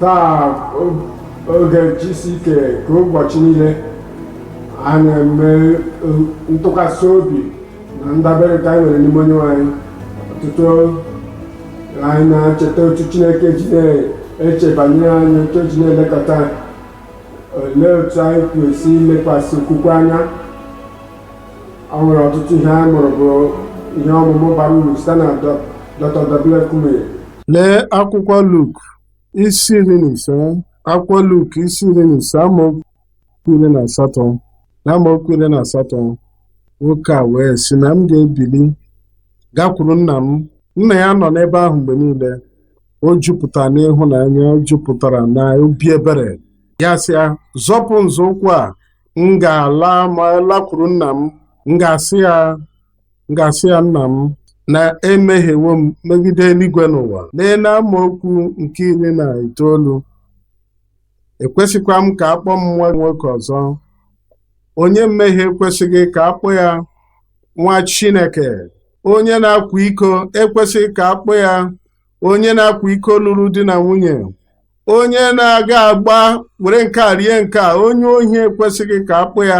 taa oge GCK ka ụbọchị niile a na-eme ntụkwasị obi na ndabere ka anyị nwere n'ime Onyenwe anyị ọtụtụ anyị na-echeta otu chineke ji na-eche banyere anyị otu o ji na-elekọta anyị olee otu anyị kwesị ilekwasị okwukwe anya o nwere ọtụtụ ihe anyị mụrụ bụ ihe ọmụmụ bara uru site na Dọ- Dr. W.F. Kumuyi Lee akwụkwọ Luk isi iri na ise akwụkwọ Luk isi iri na ise amaokwu iri na asatọ na amaokwu iri na asatọ nwoke a wee sị na m ga-ebili gakwuru nna m nna ya nọ n'ebe ahụ mgbe niile o jupụtara n'ịhụnanya o jupụtara na obi ebere ya sị ya zọpụ nzọụkwụ a m ga-ala ma lakwuru nna m m ga-asị ya nna m na emehiewo m megide eluigwe n'ụwa lee na amaokwu nke iri na itoolu ekwesịkwa m ka a kpọọ m nwa nwoke ọzọ onye mmehie ekwesịghị ka a kpọọ ya nwa Chineke onye na-akwa iko ekwesịghị ka a kpọọ ya onye na-akwa iko lụrụ di na nwunye onye na-aga agba were nke a rie nke a onye ohi ekwesịghị ka a kpọọ ya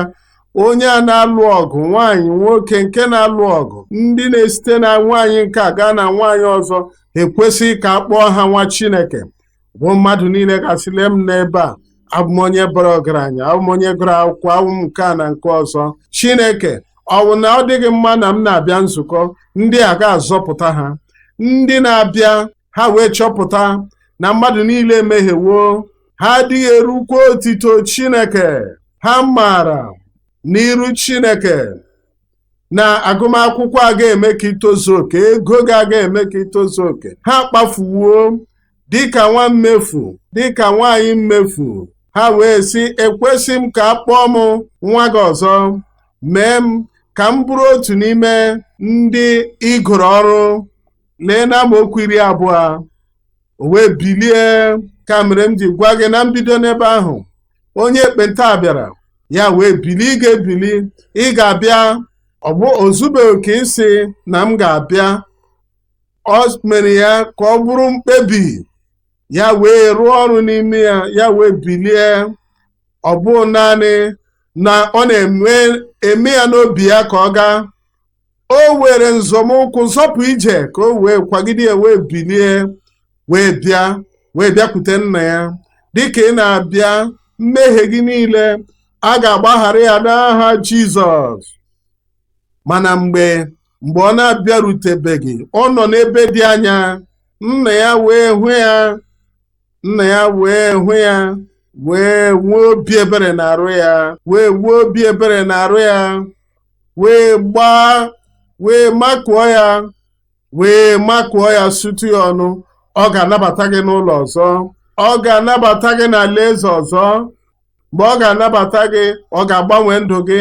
onye a na-alụ ọgụ nwaanyị nwoke nke na-alụ ọgụ ndị na-esite na nwaanyị nke a gaa na nwaanyị ọzọ ekwesịghị ka a kpọọ ha nwa Chineke bụ mmadụ niile ga-asị lee m n'ebe a abụ m onye bara ọgaranya abụ m onye gụrụ akwụkwọ abụ m nke a na nke ọzọ chineke ọ bụ na ọ dịghị mma na m na-abịa nzukọ ndị a ga-azọpụta ha ndị na-abịa ha wee chọpụta na mmadụ niile emehiewo ha adịghị erukwa otito chineke ha maara n'iru chineke na agụmakwụkwọ aga eme ka i tozuo oke ego gị aga eme ka i tozuo oke ha kpafuwo dịka nwa mmefu dịka nwaanyị mmefu ha wee sị ekwesị m ka a kpọọ m nwa gị ọzọ mee m ka m bụrụ otu n'ime ndị i goro ọrụ lee na amaokwu iri abụọ o wee bilie ka mere m ji gwa gị na mbido n'ebe ahụ onye ekpenta bịara ya wee bili ị ga-ebili ị ga-abịa ọ bụ o zubeghị oke ịsị na m ga-abịa o mere ya ka ọ bụrụ mkpebi ya wee rụọ ọrụ n'ime ya ya wee bilie ọ bụ naanị na ọ na-eme ya n'obi ya ka ọ gaa o were nzọmụkwụ zọpụ ije ka o wee kwagide ya wee bilie wee bịa wee bịakwute nna ya dịka ị na-abịa mmehie gị niile a ga-agbaghara ya n'aha Jizọs mana mgbe mgbe ọ na-abịarutebeghị ọ nọ n'ebe dị anya nna ya wee hụ ya nna ya wee hụ ya wee nwee obi ebere n'arụ ya wee nwee obi ebere n'arụ ya wee gbaa wee makụọ ya wee makụọ ya sutu ya ọnụ ọ ga-anabata gị n'ụlọ ọzọ ọ ga-anabata gị n'alaeze ọzọ mgbe ọ ga-anabata gị ọ ga-agbanwe ndụ gị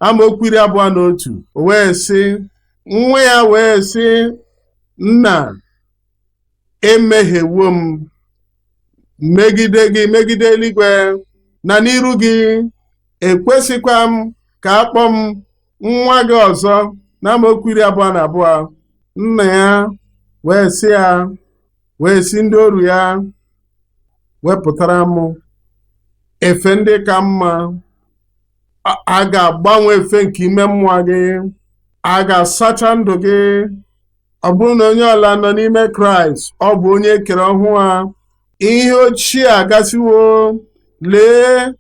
amaokwu iri abụọ na otu o wee sị nwa ya wee sị nna emehiewo m megide gị megide eluigwe na n'iru gị ekwesịkwa m ka a kpọọ m nwa gị ọzọ na amaokwu iri abụọ na abụọ nna ya wee sị ya wee sị ndị oru ya wepụtara m efe ndị ka mma a ga-agbanwe efe nke ime mmụọ gị a ga-asacha ndụ gị Ọ bụrụ na onye ọbụla nọ n'ime Kraịst, ọ bụ onye e kere ọhụụ a. Ihe ochie agasịwo, lee,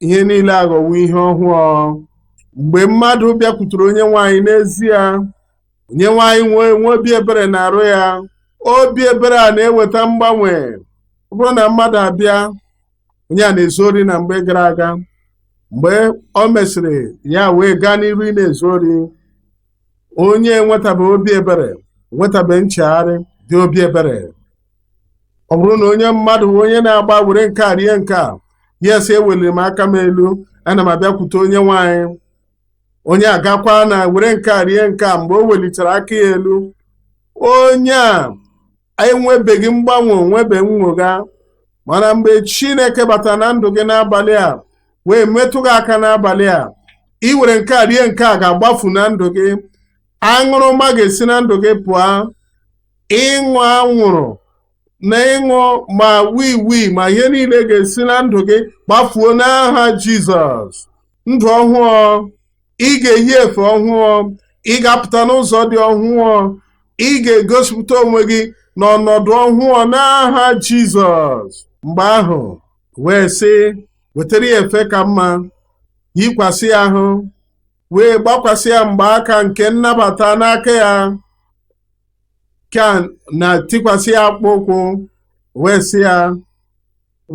ihe niile aghọwo ihe ọhụụ. Mgbe mmadụ bịakwutere Onyenwe anyị n'ezie, Onyenwe anyị wee nwee obi ebere n'arụ ya. Obi ebere a na-eweta mgbanwe. Ọ bụrụ na mmadụ abịa, onye a na-ezu ori na mgbe gara aga, mgbe o mesịrị ya wee gaa n'iru na-ezu ori, onye enwetabeghị obi ebere nwetabeghị nchegharị dị obi ebere ọ bụrụ na onye mmadụ onye na-agba were nke a rie nke a ya asị eweliri m aka m elu ana m abịakwute onyenwe anyị onye a gakwaa na were nke a rie nke a mgbe o welitere aka ya elu onye a onye enwebeghị mgbanwe nwebeghị nnwogha mana mgbe chineke batara na ndụ gị n'abalị a wee metụ gị aka n'abalị a iwere nke a rie nke a ga-agbafu na ndụ gị aṅụrụma ga-esi na ndụ gị pụọ ịṅụ anwụrụ na ịṅụ ma wii wii ma ihe niile ga-esi na ndụ gị gbafuo n'aha jizọs ndụ ọhụụ ị ga-eyi efe ọhụụ ị ga-apụta n'ụzọ dị ọhụụ ị ga-egosipụta onwe gị n'ọnọdụ ọhụụ n'aha Jizọs mgbe ahụ wee sị wetara ya efe ka mma yikwasị ya ahụ wee gbakwasị ya mgbaaka nke nnabata n'aka ya ka na tikwasị ya akpụkpọ ụkwụ wee sị ya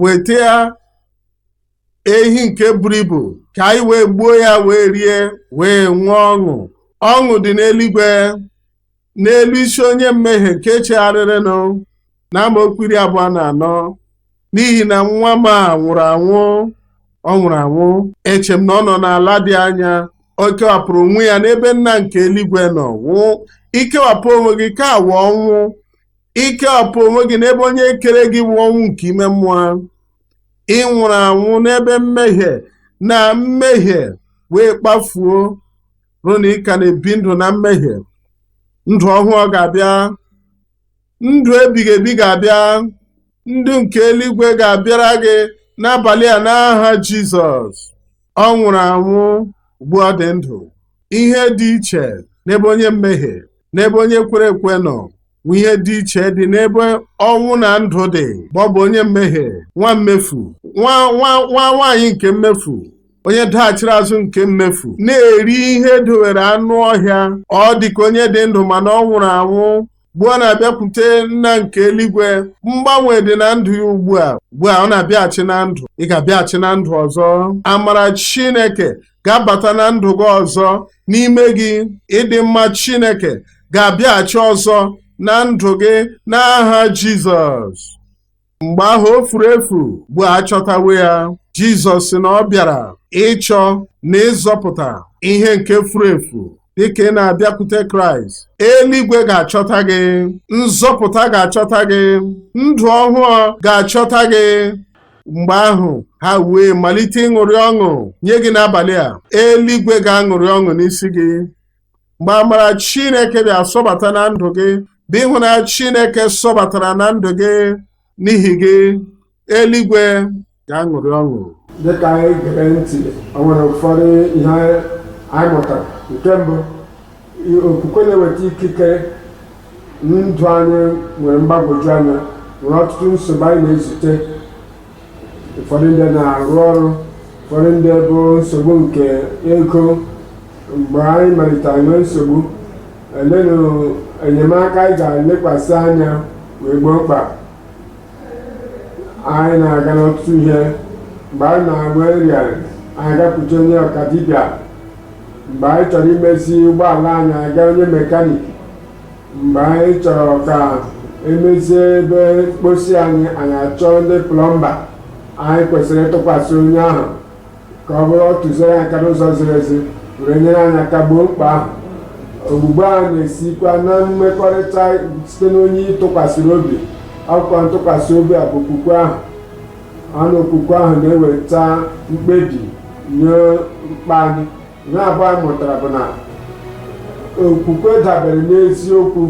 weta ya ehi nke buru ibu ka anyị wee gbuo ya wee rie wee nwee ọṅụ ọṅụ dị n'eluigwe n'elu isi onye mmehie nke chegharịrịnụ na amaokwu iri abụọ na anọ n'ihi na nwa m a nwụrụ anwụ ọ nwụrụ anwụ eche m na ọ nọ n'ala dị anya o kewapụrụ onwe ya n'ebe nna nke eluigwe nọ ọnwụ ikewapụ onwe gị ka awụ ọnwụ ikewapụ onwe gị n'ebe onye kere gị wụ ọnwụ nke ime mmụọ ị nwụrụ anwụ n'ebe mmehie na mmehie wee kpafuo ọ bụrụ na ị ka na-ebi ndụ na mmehie ndụ ọhụụ ga-abịa ndụ ebighị ebi ga-abịa ndụ nke eluigwe ga-abịara gị n'abalị a n'aha Jizọs ọ nwụrụ anwụ ugbu a ọ dị ndụ ihe dị iche n'ebe onye mmehie n'ebe onye kwere ekwe nọ bụ ihe dị iche dị n'ebe ọnwụ na ndụ dị ma ọ bụ onye mmehie nwa mmefu nwa nwaanyị nke mmefu onye daghachiri azụ nke mmefu na-eri ihe e dowere anụ ọhịa ọ dịka onye dị ndụ mana ọ nwụrụ anwụ ugbu a ọ na-abịakwute nna nke eluigwe mgbanwe dị na ndụ ya ugbu a ugbu a ọ na-abịaghachi na ndụ ị ga-abịaghachi na ndụ ọzọ amara Chineke ga-abata na ndụ gị ọzọ n'ime gị ịdị mma Chineke ga-abịaghachi ọzọ na ndụ gị n'aha Jizọs mgbe ahụ o furu efu ugbu a achọtawo ya Jizọs sị na ọ bịara ịchọ na ịzọpụta ihe nke furu efu dịka ị na-abịakwute Kraịst eluigwe ga-achọta gị nzọpụta ga-achọta gị ndụ ọhụụ ga-achọta gị mgbe ahụ ha wee malite ịṅụrị ọṅụ nye gị n'abalị a eluigwe ga-aṅụrị ọṅụ n'isi gị mgbe amara Chineke bịa sọbata na ndụ gị bụ ịhụnanya Chineke sọbatara na ndụ gị n'ihi gị eluigwe ga-aṅụrị ọṅụ dịka anyị gere ntị o nwere ụfọdụ ihe anyị mụtara nke mbụ okwukwe na-eweta ikike ndụ anyị nwere mgbagwoju anya nwere ọtụtụ nsogbu anyị na-ezute ụfọdụ ndị na-arụ ọrụ ụfọdụ ndị bụ nsogbu nke ego mgbe anyị malitere nwee nsogbu elenụ enyemaka anyị ga-elekwasị anya wee gboo mkpa anyị na-aga n'ọtụtụ ihe mgbe anyị na-ada ọrịa anyị agakwute onye ọka dibịa mgbe anyị chọrọ imezi ụgbọala anyị aga onye mekanik mgbe anyị chọrọ ka e mezie ebe mkposi anyị anyị achọọ ndị plọmba anyị kwesịrị ịtụkwasị onye ahụ ka ọ bụrụ tụziere anyị aka n'ụzọ ziri ezi were nyere anyị aka gboo mkpa ahụ ogbugbo ahụ na-esikwa na mmekọrịta site n'onye ị tụkwasịrị obi ọ bụkwa ntụkwasị obi a bụ okwukwe ahụ ọ bụ okwukwe ahụ na-eweta mkpebi nye mkpa anyị ihe abụọ anyị mụtara bụ na okwukwe dabere n'eziokwu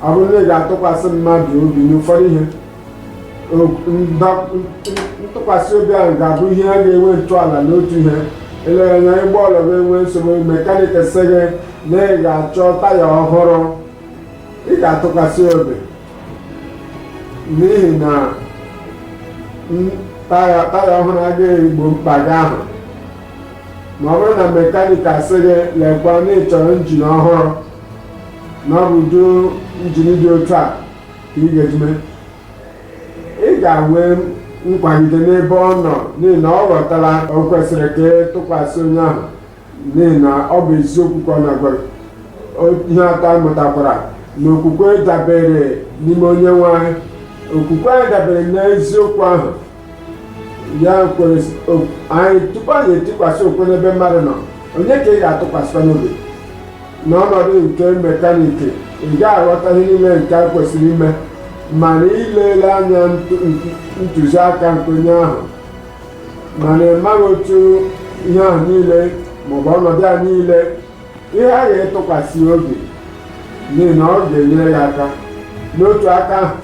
ọ bụrụ na ị ga-atụkwasị mmadụ obi n'ụfọdụ ihe ntụkwasị obi ahụ ga-abụ ihe a ga-enwe ntọala n'otu ihe eleghị anya ụgbọ ala gị enwe nsogbu mekanik sị gị na ị ga-achọ taya ọhụrụ ị ga-atụkwasị obi n'ihi na taya ọhụrụ a ga-egbo mkpa gị ahụ ma ọ bụrụ na mekanik asị gị lekwa na ị chọrọ njin ọhụrụ na ọ bụ ụdị njin dị otu a ka ị ga-eji mee ị ga-enwe nkwagide n'ebe ọ nọ n'ihi na ọ ghọtara o kwesịrị ka ị tụkwasị onye ahụ n'ihi na ọ bụ eziokwu ka ọ na-agwa gị. O- ihe atọ anyị mụtakwara na okwukwe dabere n'ime onye nwe anyị okwukwe anyị dabere n'eziokwu ahụ ya kwere anyị tupu anyị atụkwasị okwukwe n'ebe mmadụ nọ onye ka ị ga-atụkwasịkwanụ obi n'ọnọdụ nke mekaniki ị gaghị aghọta ihe niile nke a kwesịrị ime mana ilele anya ntụziaka nke onye ahụ mana ị maghị otu ihe ahụ niile maọbụ ọnọdụ a niile ị ghaghị ịtụkwasị ya obi n'ihi na ọ ga-enyere gị aka n'otu aka ahụ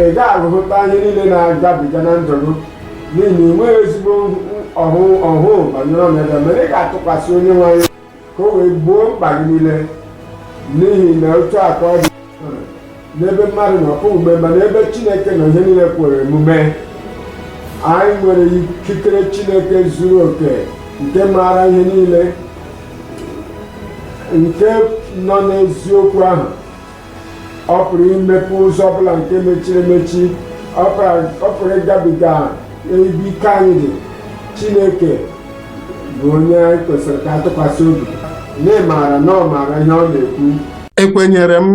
ị gaghị ahụta ihe niile na-agabiga na ndụ gị n'ihi na ị nweghị ezigbo ọhụụ banyere ọnọdụ mana ị ga-atụkwasị onye nwe anyị ka o wee gboo mkpa gị niile n'ihi na otu a ka ọ dị n'ebe mmadụ nọ ọ pụghị omume mana ebe chineke nọ ihe niile kwere omume anyị nwere ikikere chineke zuru oke nke maara ihe niile nke nọ n'eziokwu ahụ ọ pụrụ imepe ụzọ ọbụla nke mechiri emechi ọ pụrụ ịgabiga ebe ike anyị dị chineke bụ onye anyị kwesịrị ka a tụkwasị obi na ị maara na ọ maara ihe ọ na-ekwu ekwenyere m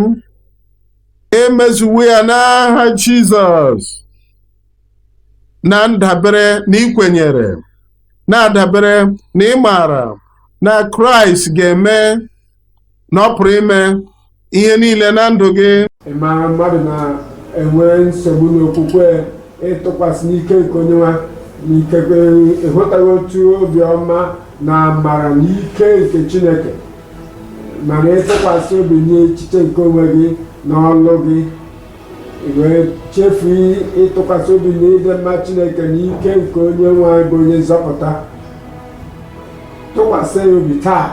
emezuwo ya n'aha jizọs na ndabere na ikwenyere na-adabere na ịmara na kraịst ga-eme na ọ pụrụ ime ihe niile na ndụ gị ị maara mmadụ na-enwe nsogbu n'okwukwe ịtụkwasị n'ike nke onye nwe anyị ikekwe ịhụtaghị otu obiọma na amara na ike nke chineke mana ịtụkwasị obi n'echiche nke onwe gị na ọlụ gị i wee chefu ịtụkwasị obi na ịdị mma chineke na ike nke onye nwe anyị bụ onye nzọpụta tụkwasị ya obi taa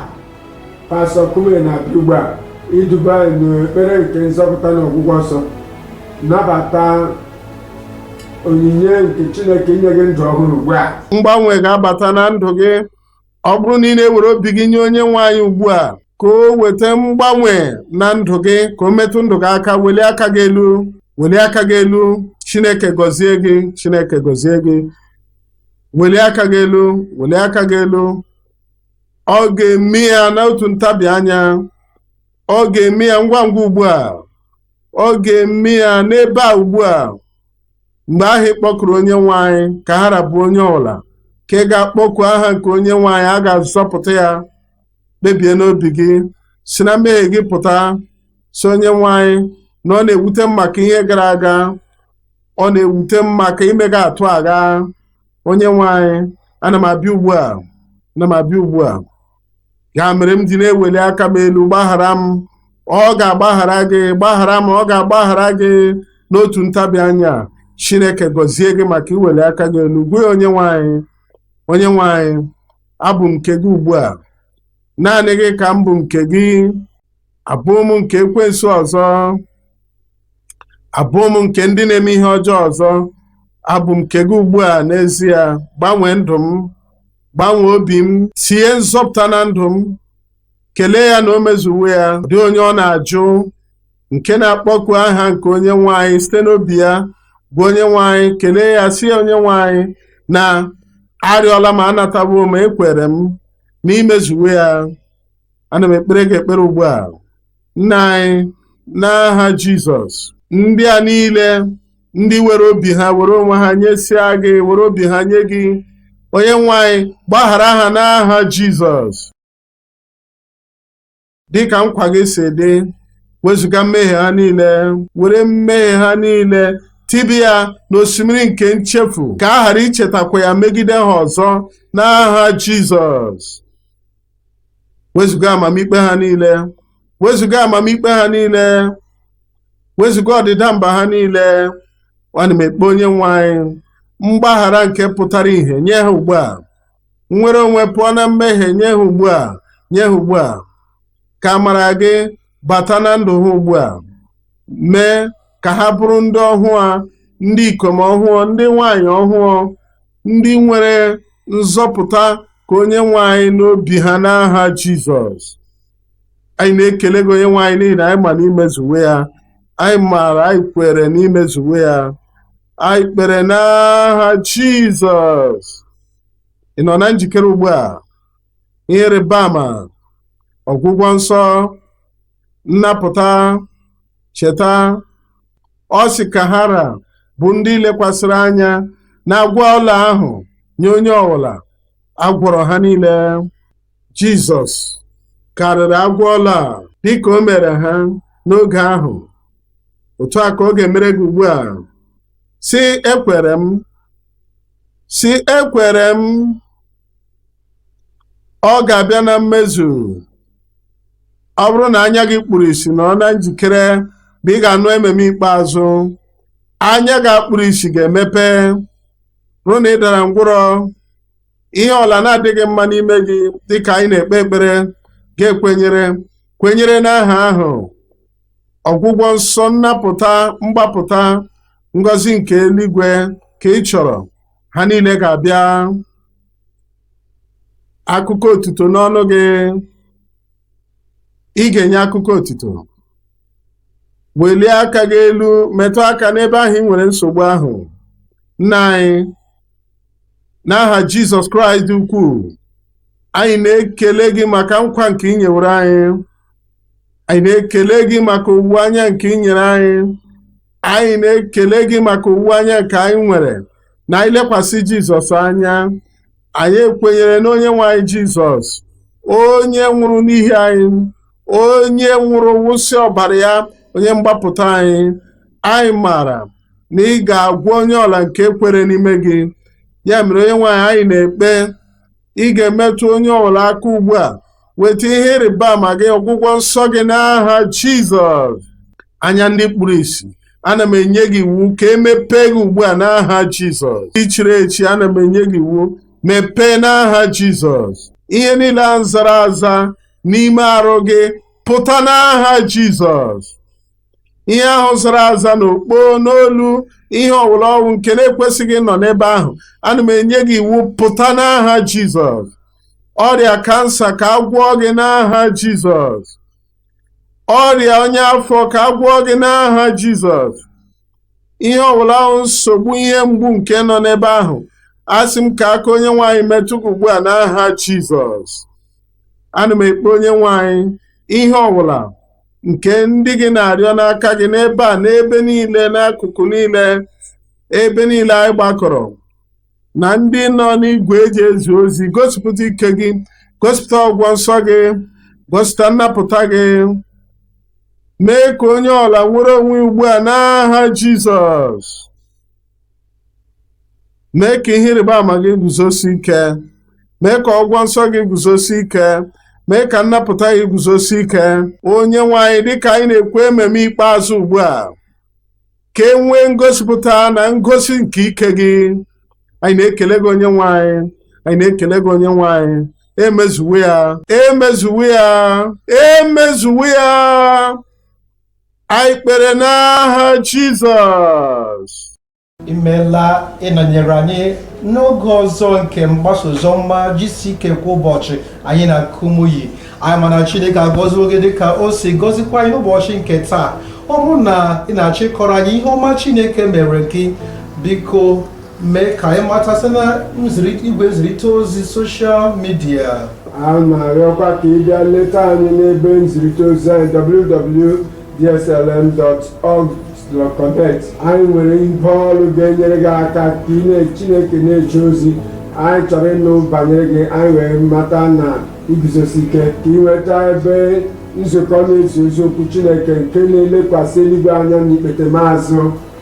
pastọ Kumuyi na-abịa ugbu a iduba anyị n'ekpere nke nzọpụta na ọgwụgwọ nsọ nabata onyinye nke Chineke inye gị ndụ ọhụrụ ugbu a mgbanwe ga-abata na ndụ gị ọ bụrụ na ị na-ewere obi gị nye onye nwe anyị ugbu a ka o weta mgbanwe na ndụ gị ka o metụ ndụ gị aka welie aka gị elu welie aka gị elu Chineke gọzie gị Chineke gọzie gị welie aka gị elu welie aka gị elu ọ ga-eme ya n'otu ntabi anya ọ ga-eme ya ngwa ngwa ugbu a ọ ga-eme ya n'ebe a ugbu a mgbe ahụ ị kpọkuru onye nwe anyị ka ha ra bụ onye ọbụla nke ga-akpọku aha nke onye nwe anyị a ga-azọpụta ya kpebie n'obi gị si na mmehie gị pụta sị onye nwe anyị na ọ na-ewute m maka ihe gara aga ọ na-ewute m maka ime gị atụ agha onye nwe anyị ana m abịa ugbu a ana m abịa ugbu a ya mere m ji na-eweli aka m elu gbaghara m ọ ga-agbaghara gị gbaghara m ọ ga-agbaghara gị n'otu ntabi anya chineke gọzie gị maka iweli aka gị elu gwa ya onye nwe anyị onye nwe anyị abụ m nke gị ugbu a naanị gị ka m bụ nke gị abụghị m nke ekwensu ọzọ abụghị m nke ndị na-eme ihe ọjọọ ọzọ abụ m nke gị ugbu a n'ezie gbanwee ndụ m gbanwee obi m tie nzọpụta na ndụ m kelee ya na o mezuwo ya ọ dịghị onye ọ na-ajụ nke na-akpọku aha nke onye nwe anyị site n'obi ya gwa onye nwe anyị kelee ya sị ya onye nwe anyị na arịọla m anatawo m ekwere m na i mezuwo ya ana m ekpere gị ekpere ugbu a nna anyị n'aha Jizọs ndị a niile ndị were obi ha were onwe ha nyesịa gị were obi ha nye gị onye nwe anyị gbaghara ha n'aha Jizọs dịka nkwa gị si dị wezuga mmehie ha niile were mmehie ha niile tiba ya n'osimiri nke nchefu ka a ghara ichetakwa ya megide ha ọzọ n'aha Jizọs wezụga amamikpe ha niile wezụga amamikpe ha niile wezụga ọdịda mba ha niile ana m ekpe onye nwe anyị mgbaghara nke pụtara ihe nye ha ugbu a nnwere onwe pụọ na mmehie nye ha ugbu a nye ha ugbu a ka amara gị bata na ndụ ha ugbu a mee ka ha bụrụ ndị ọhụụ a ndị ikom ọhụụ ndị nwanyị ọhụụ ndị nwere nzọpụta ka onye nwe anyị n'obi ha n'aha Jizọs anyị na-ekele gị onye nwe anyị n'ihi na anyị ma na i mezuwo ya anyị maara anyị kwere na i mezuwo ya anyị kpere n'aha Jizọs ị nọ na njikere ugbu a ihe ịrịba ama ọgwụgwọ nsọ nnapụta cheta ọ sị ka ha ra bụ ndị lekwasịrị anya n'agwọ ọla ahụ nye onye ọbụla a gwọrọ ha niile jizọs karịrị agwọ ọla a dịka o mere ha n'oge ahụ otu a ka ọ ga-emere gị ugbu a sị ekwere m sị ekwere m ọ ga-abịa na mmezu ọ bụrụ na anya gị kpuru isi nọrọ na njikere mgbe ị ga-anụ amen ikpeazụ anya gị kpuru isi ga-emepe ọ bụrụ na ị dara ngwụrọ ihe ọbụla na-adịghị mma n'ime gị dịka anyị na-ekpe ekpere ga-ekwenyere kwenyere n'aha ahụ ọgwụgwọ nsọ nnapụta mgbapụta ngọzi nke eluigwe ka ị chọrọ ha niile ga-abịa akụkọ otuto n'ọnụ gị ị ga-enye akụkọ otuto welie aka gị elu metụ aka n'ebe ahụ i nwere nsogbu ahụ nna anyị n'aha Jizọs Kraịst ukwuu anyị na-ekele gị maka nkwa nke i nyewere anyị anyị na-ekele gị maka owuwe anya nke i nyere anyị anyị na-ekele gị maka owuwe anya nke anyị nwere na anyị lekwasị jizọs anya anyị ekwenyere na onye nwe anyị jizọs onye nwụrụ n'ihi anyị onye nwụrụ wụsị ọbara ya onye mgbapụta anyị anyị maara na ị ga-agwọ onye ọbụla nke kwere n'ime gị ya mere onye nwe anyị anyị na-ekpe ị ga-emetụ onye ọbụla aka ugbu a weta ihe ịrịba ama gị ọgwụgwọ nsọ gị n'aha jizọs anya ndị kpuru isi ana m enye gị iwu ka e mepee gị ugbu a n'aha jizọs ntị chiri echi ana m enye gị iwu mepee n'aha jizọs ihe niile a zara aza n'ime arụ gị pụta n'aha jizọs ihe ahụ zara aza n'okpo n'olu ihe ọwụla ọ wụ nke na-ekwesịghị ịnọ n'ebe ahụ ana m enye gị iwu pụta n'aha jizọs ọrịa kansa ka a gwọọ gị n'aha jizọs ọrịa ọnya afọ ka a gwọọ gị n'aha jizọs ihe ọwụla ọ wụ nsogbu ihe mgbu nke nọ n'ebe ahụ asị m ka aka onye nwe anyị metụ gị ugbu a n'aha jizọs ana m ekpe onye nwe anyị ihe ọwụla nke ndị gị na-arịọ n'aka gị n'ebe a n'ebe niile n'akụkụ niile ebe niile anyị gbakọrọ na ndị nọ n'igwe e ji ezi ozi gosipụta ike gị gosipụta ọgwụgwọ nsọ gị gosipụta nnapụta gị mee ka onye ọwụla nwere onwe ya ugbu a n'aha Jizọs mee ka ihe ịrịba ama gị guzosi ike mee ka ọgwụgwọ nsọ gị guzosi ike mee ka nnapụta gị guzosi ike onye nwe anyị dịka anyị na-ekwe amen ikpeazụ ugbu a ka e nwee ngosipụta na ngosi nke ike gị anyị na-ekele gị onye nwe anyị anyị na-ekele gị onye nwe anyị e mezuwo ya e mezuwo ya e mezuwo ya anyị kpere n'aha Jizọs imeela ịnọnyere anyị n'oge ọzọ nke mgbasa oziọma GCK kwa ụbọchị anyị na Kumuyi anyị ma na chineke agọziwo gị dịka o si gọzikwa anyị n'ụbọchị nke taa ọ bụrụ na ị na-achọ ịkọrọ anyị ihe ọma chineke meere gị biko mee ka anyị mata site na nziri- igwe nzirịta ozi soshal midia a na-arịọkwa ka ị bịa leta anyị n'ebe nzirịta ozi anyị www.dclm.org/connect anyị nwere ibe ọrụ ga-enyere gị aka ka ị na Chineke na-eje ozi anyị chọrọ ịnụ banyere gị anyị wee mata na i guzosi ike ka ị nweta ebe nzukọ na-ezi ozi okwu Chineke nke na-elekwasị eluigwe anya n'ikpete maazụ